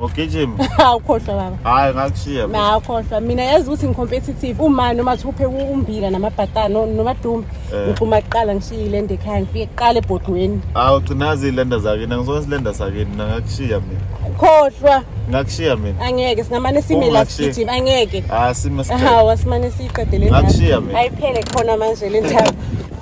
Ngogijima. Awukhohlwa baba. Hayi ngakushiya. Na awukhohlwa. Mina yazi ukuthi ngicompetitive uma noma thuphe umbila namabhatana noma dumbe. Eh. Ngixuma kuqala ngishiye ilenda ekhaya ngifike kuqala ebhodweni. Awu gcinazi ilenda zakini ngizona silenda sakini ngakushiya mina. Khohlwa. Ngakushiya mina. Angeke singamane sime la sigijima angeke. Ah sime sicela. Hawu asimane siqedele. Ngakushiya mina. Ayiphele khona manje le ndaba.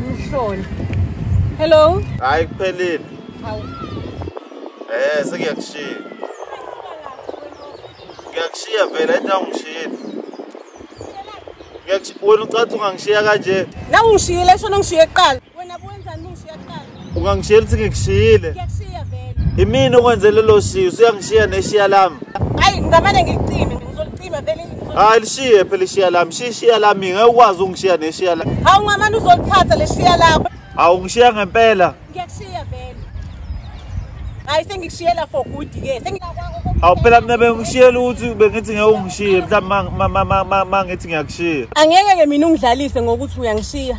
Mhloli. Hello. Hayi kuphelile. Hawu. Eh sekuyakushiya. Ngiyakushiya vele into angishiyile. Ngiyakushiya wena ucathi ungangishiya kanje. Nawu ngishiyile shona ngishiye kuqala. Ungangishiyela ukuthi ngikushiyile. Ngiyakushiya vele. Imini okwenze lelo shiyo, usuyangishiya neshiya lami. Hayi, ngamane ngicime, ngizolcima vele. Hayi lishiye phela ishiya lami, shishiya lami ngeke ukwazi ungishiya neshiya lami. Hawu ngamane uzolithatha leshiya lakho. Hawu ngishiya ngempela. Ngiyakushiya vele. Hayi sengikushiyela for good ke. Sengilakwa Awu phela mina bengishiyela ukuthi bengithi ngeke ungishiye mhlawumbe mangithi ngiyakushiya. Angeke ke mina ungidlalise ngokuthi uyangishiya.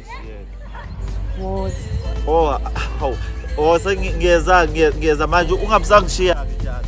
Oh, hawu. Oh, sengiyeza ngiyeza manje ungabusangishiya ke njalo.